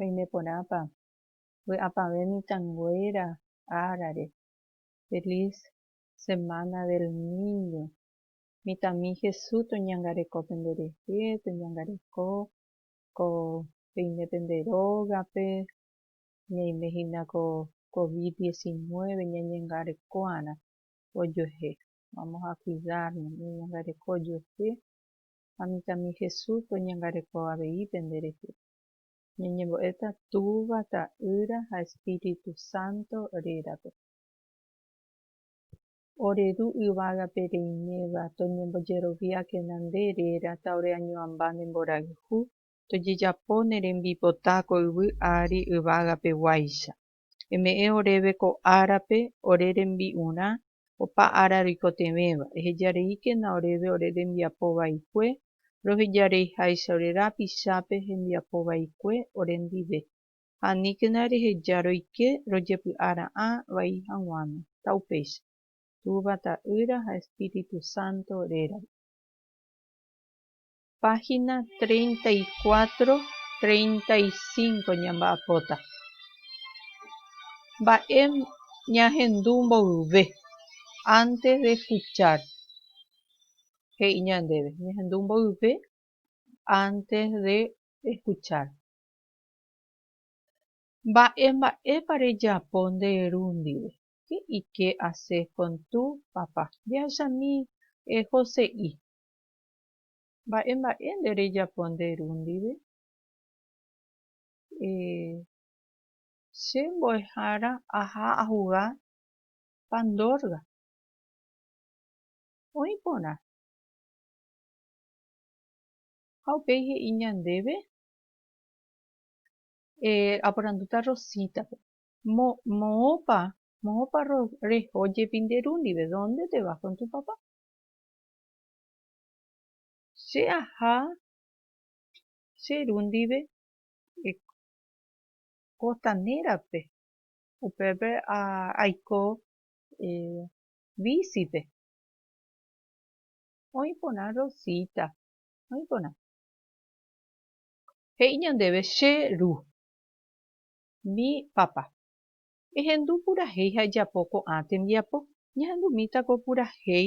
Oime porãpa, vy'apavẽ mitãnguéra árare, Feliz Semana del Niño, mitãmi Jesús toñangareko penderehe, toñangareko ko peime pende rógape, ñaime hína ko Covid 19 ñañangarekoarã ojuehe, vamos a cuidarnos, ñañangareko ojuehe ha mitãmi Jesús oñangareko avei pende rehe. Ñañembo'éta Túva, Ta'ýra ha Espíritu Santo rérape. Ore Ru yvágape reiméva, toñembojeroviákena nde réra ta ore añoamba ne mborayhu, tojejapo ne rembipota ko yvy ári yvágape guáicha. Eme'ẽ oréve ko árape ore rembi'urã opa ára roikotevẽva, ehejareíkena oréve ore rembiapo vaikue, rohejareiháicha ore rapichápe hembiapo vaikue orendive, ha aníkena reheja roike rojepy'a ra'ã vai haguãme, ta upéicha, Túva Ta'ýra ha Espíritu Santo rérape. páhina treinta y cuatro, treinta y cinco ñamba'apóta. Mba'e ñahendu mboyve antes de escuchar? He'i ñandéve, ñahendu mboyve antes de escuchar. Mba'e mba'épa rejapo nde ru ndive? ¿Qué y qué haces con tu papá? Jahechami José'i. Mba'e mba'e nde rejapo nde ru ndive? Ehe. Che mbo'ehára aha ahuga pandorga. Oĩ porã. Ha upéi he'i ñandéve? Ehe. Aporandúta Rosita-pe. Mo, moõpa, moõpa ro, reho jepi nde ru ndive? Dónde te vas kon tu papá? Che aha che ru ndive kostanérape, upépe aiko vísipe. Oĩ porã Rosita, oĩ porã. He'i ñandéve che ru, mi papa. Ehendu purahéi ha ejapo ko'ã tembiapo. Ñahendumíta ko purahéi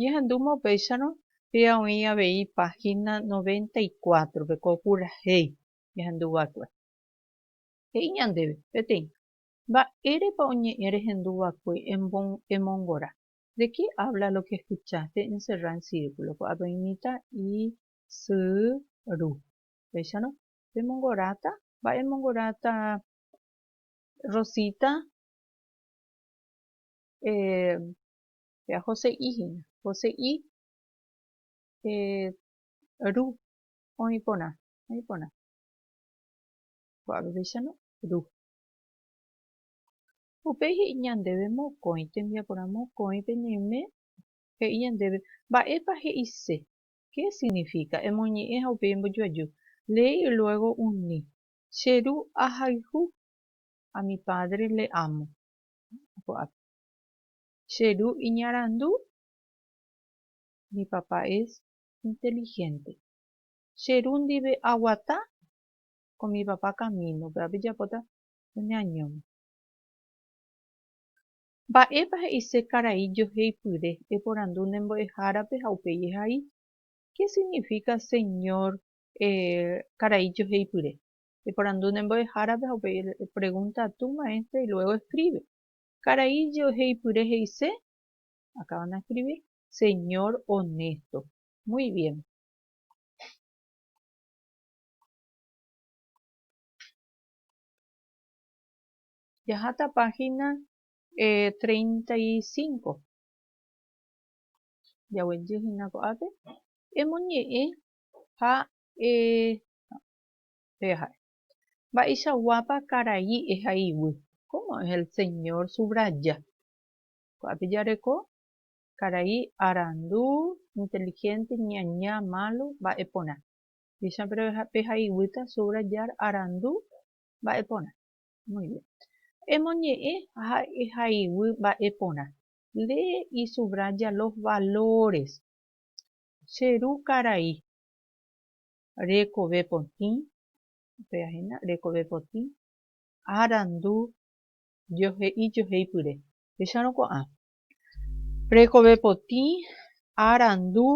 Ñahendúma upéicharõ pia oĩ avei páhina noventa y cuátrope ko purahéi jahendu va'ekue. He'i ñandéve peteĩ, Mba'érepa oñe'ẽ rehendu va'ekue emongora? De qué habla lo que escuchaste encerrá en círculo? Ko'ápe oĩ mitã isy ru. Upéicharõ, pemongoráta? Mba'e emongoráta Rosita? Eh, Jajose'i hína. Jose'i Ru. Oĩ porã. Oĩ porã. Ko'ág̃apeicharõ Ru. Upéi he'i ñandéve mokõi, tembiaporã mokõi peñeime, he'i ñandéve, Mba'épa he'ise? Qué significa? Emoñe'ẽ ha upéi embojoaju. Leí y luego uní. Che ru ahayhu. A mi padre le amo. Ko'ápe. Che ru iñarandu? Mi papá es inteligente. Che ru ndive aguata con mi papá camino-pe, ápe japóta oñeañóma. Mba'épa he'ise karai joheipyre? Eporandu ne mbo'ehárape ha upéi ehai, Qué significa señor karai joheipyre? Eporandu ne mbo'ehárape ha upéi pregunta a tu maestra y luego escribe. Karai je'oheipyre he'ise, acaban de escribir, señor honesto. Muy bien. Jaháta página eh, 35. Jaguejy hína ko'ápe. Emoñe'ẽ ha eh, peha'e. Mba'eichaguápa karai ehaiguy? Cómo es el señor subraya? Ko'ápe jareko, karai arandu, inteligente, ñaña, malo, mba'e porã. Upéicha pehaiguýta subrayar arandu, mba'e porã. Muy bien. Emoñe'ẽ ha ehaiguy mba'e porã. Lee y subraya los valores. Che ru karai. rekove potĩ, upéva hína, rekove potĩ, arandu, johe'i, joheipyre. Péicharõ ko'ã. Rekove potĩ, arandu,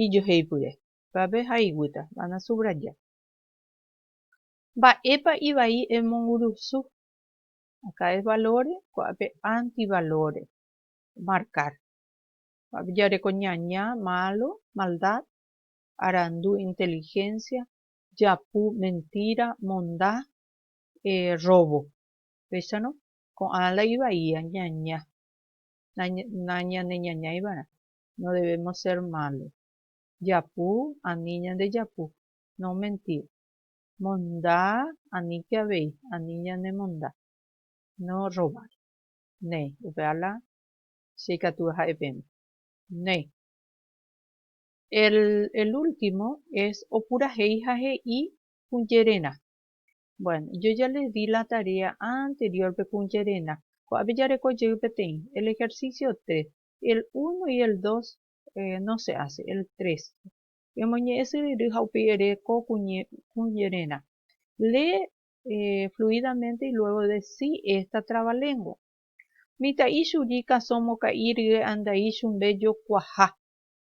ijoheipyre. Upévape ha iguýta. Va nasubraya. Mba'épa ivai emongurusu? Acá es valore, ko'ápe antivalore. Marcar. Ko'ápe jareko ñaña, malo, maldad, arandu inteligencia, japu, mentira, monda, robo. Péicharõ, ko'ã la ivaia ñaña, nañaneñañaivarã, no debemos ser malo. Japu, ani ñandejapu, no mentir. Monda, aníke avei, ani ñanemonda, no robar. Néi, upéva la che ikatu aha'e pẽma. Néi. El último es opurahéi ha he'i kuñererã. Bueno, yo ya les di la tarea anterior pe kuñererã. Ko'ápe jareko jey peteĩ. El ejercicio tres. El uno y el dos no se hace, el tres. Emoñe'ẽ syryry ha upéi ere ko kuñererã. Lee fluidamente y luego decí esta trabalengua. Mitã'i churi kasõ mokã'i rye andai chumbe jokuaha.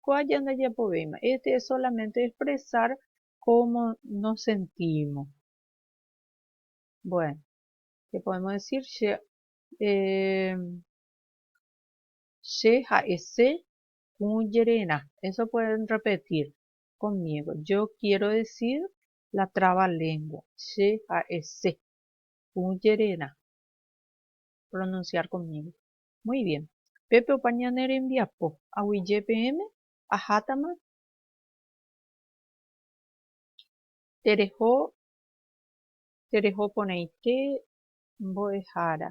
Ko aja ndajapovéima. Este es solamente expresar cómo nos sentimos. Bueno, ¿qué podemos decir? Che, eh, che ha'ese kujererã. Eso pueden repetir conmigo. Yo quiero decir la traba lengua. Che ha'ese kujererã. Pronunciar conmigo. Muy bien. Pépe opa ñane rembiapo, aguyje peẽme, ahátama tereho tereho porãite mbo'ehára.